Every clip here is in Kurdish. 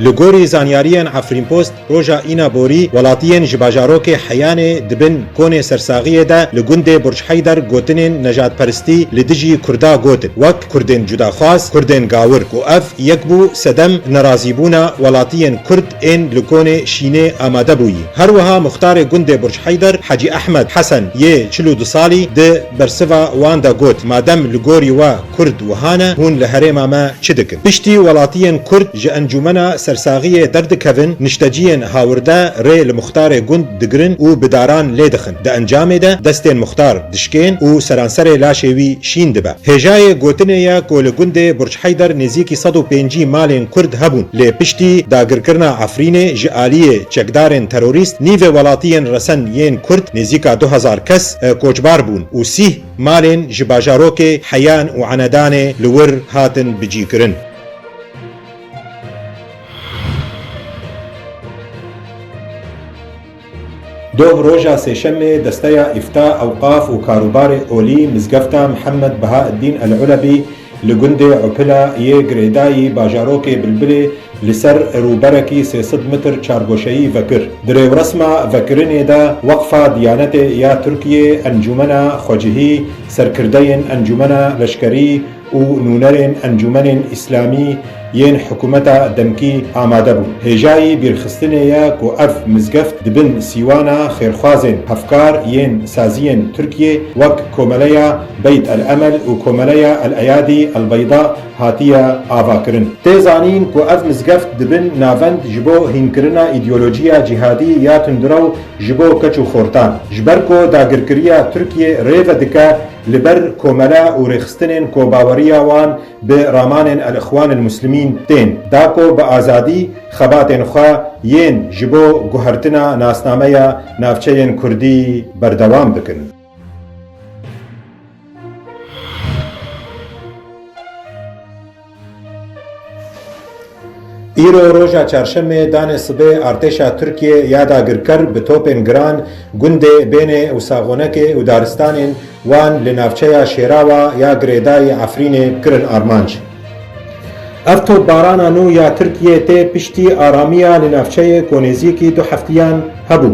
Li gorî zanyariyên Efrînpost roja Îna Borî welatiyên ji bajarokê Heyanê di bin konê sersaxiyê de li gundê Burçheyder gotinên nejadperistî li dijî Kurda gotin wek Kurdên cudaxwaz, Kurdên gawir û ev yek bû sedem nerazîbûna welatiyên Kurd ên li konê şînê amade bûyî. Her wiha muxtarê gundê Burçheyder Hecî Ehmed Hesen yê çil û du salî di bersiva wan de got madem li gorî we Kurd wiha ne, hûn li herêma me çi dikin? Piştî welatiyên Kurd ji encûmena sersagiyê derdikevin, nişteciyên hawirde rê li muxtarê gund digirin û bi daran lê dixin. Di encamê de destên muxtar dişkên û seranserê laşê wî şîn dibe. Hêjayê gotinê ye ku li gundê Burç Heyder nêzîkî sed û pêncî malên Kurd hebûn, lê piştî dagirkirina Efrînê ji aliyê çekdarên terorîst nîvê welatiyên resen yên Kurd nêzîka du hezar kes koçbar bûn û sîh Malên ji bajarokê Heyan û Enedanê li wir hatin bicîkirin. Doh roja Sêşemê desteya Îfta, Ewqaf û Karûbarê Olî Mizgefta Mihemed Behaeddîn El Ulebî Li gundê Upila yê girêdayî bajarokê Bilbilê li ser rûberekî sê sed mitr çargoşeyî vekir. Di rêwresma vekirinê de Weqfa Diyanetê ya Tirkiyê, Encûmena Xwecihî, serkirdeyên Encûmena Leşkerî û nûnerên Encûmenên Îslamî, yên hikûmeta demkî amade bûn. Hêjayî bîrxistinê ye ku ev mizgeft di bin sîwana xêrxwazên hevkar yên saziyên Tirkiyê wek Komeleya Beyt El Emel û Komeleya El Eyadî El Beyda hatiye avakirin. Tê zanîn ku ev mizgeft di bin navend ji bo hînkirina îdeolojiya cîhadî ya tundrew ji bo keç û xortan. Ji ber ku dagirkiriya Tirkiyê rêve dike li ber komele û rêxistinên ku baweriya wan Bi ramanên Elixwan el Muslimîn tên dako bi azadî xebatên xwe yên ji bo guhertina nasnameya navçeyên kurdî berdewam dikin. Îro roja Çarşemê danê sibê artêşa Tirkiyê ya dagirker bi topên giran gundê Bênê û Saxonekê û daristanên wan li navçeya Şêrawa ya girêdayî Efrînê kirin armanc. Ev topbarana nû ya Tirkiyê tê piştî aramiya li navçeyê ku nêzîkî du heftiyan hebû.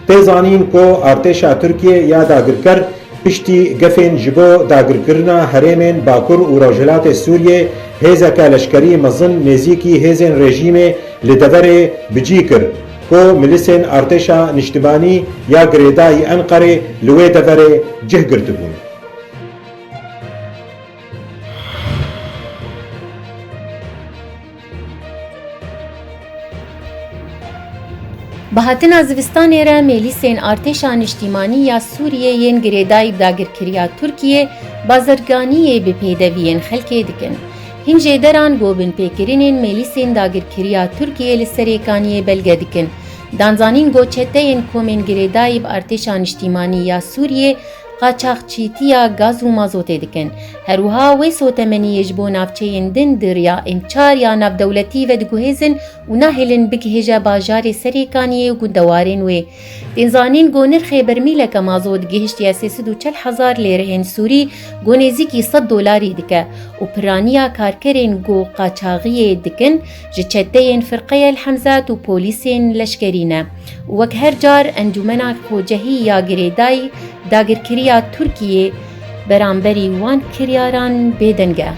Tê zanîn ku artêşa Tirkiyê ya dagirker piştî gefên ji bo dagirkirina herêmên Bakur û Rojhilatê Sûriyê hêzeke leşkerî mezin nêzîkî hêzên rejîmê li deverê bicî kir ku milîsên Artêşa Niştimanî ya girêda yî Enqerê li wê deverê cih girtibûn. Bi hatina zivistanê re mêlîsên Artêşa Niştîmanî ya Sûriyê yên girêdayî dagirkiriya Tirkiyê bazirganiyê bi pêdeviyên xelkê dikin. Hin jê deran gobinpêkirinên mêlîsên dagirkiriya Tirkiyê li Serêkaniyê belge dikin. Danzanîn got çeteyên komên girêdayî bi Artêşa Niştîmanî ya Sûriyê qaçaxçîtiya gaz û mazotê dikin. Herwiha wê sotemeniyê ji bo navçeyên din di riya Mcar ya navdewletî ve diguhêzin û nahêlin bigihêje bajarê Serêkaniyê û gundewarên wê. Tên zanîn ku nirxê bermîleke mazot gihiştiye sê sed û çel hezar lêreyên sûrî ku nêzîkî sed dolarî dike û pirraniya karkerên ku qaçaxiyê dikin, ji çeteyên Firqeya El Hemzat û polîsên leşkerî ne. Wek her car Encûmena Kocehî ya girêdayî dagirkiriya Tirkiyê beramberî wan kiryaran bêdeng e.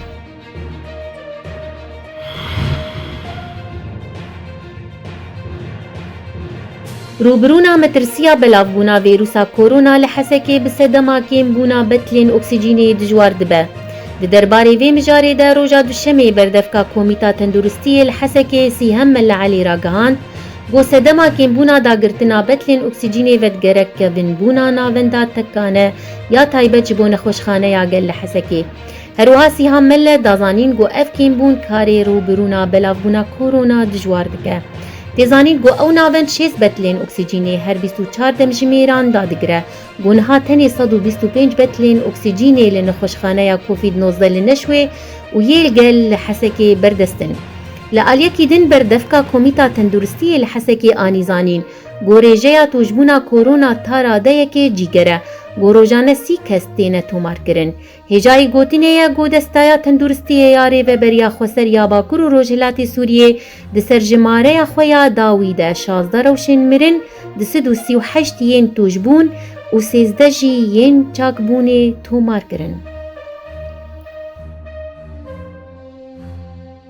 Rûbirûna metirsiya belavbûna vîrûsa Korona li Hesekê bi sedema kêm bûna betilên oksîjînê dijwar dibe. Di derbarê vê mijarê de roja Duşemê berdevka Komîta Tenduristiyê li Hesekê Sîhem Mella Elî ragihand ku sedema kêmbûna dagirtina betilên oksîjînê vedigerek kevin bûna navenda tekane ya taybet ji bo Nexweşxaneya Gel li Hesekê Herwiha Sîhan Melle da zanîn ku ev kêmbûn karê rûbirûna belavbûna Korona dijwar dike. Tê zanîn ku ew navend şêst betlên oksîcînê her bîst û çar demjimêran dadigire ku niha tenê sed û bîst û pênc betlên oksîcînê li nexweşxaneya Covid nozdeh li Neşwê û yê li gel li Hesekê berdest in. Li aliyekî din berdevka Komîta Tenduristiyê li Hesekê anî zanîn ku rêjeya tojbûna Korona ta radeyekê cîger e ku rojane sî kes têne tomarkirin. Hêjayî gotinê ye ku Desteya Tenduristiyê ya Rêveberiya Xweser ya Bakur û Rojhilatê Sûriyê di serjimareya xwe ya dawî de şazdeh rewşên mirin, du sed û sî û heşt yên tûjbûn û sêzdeh jî yên çakbûnê tomar kirin.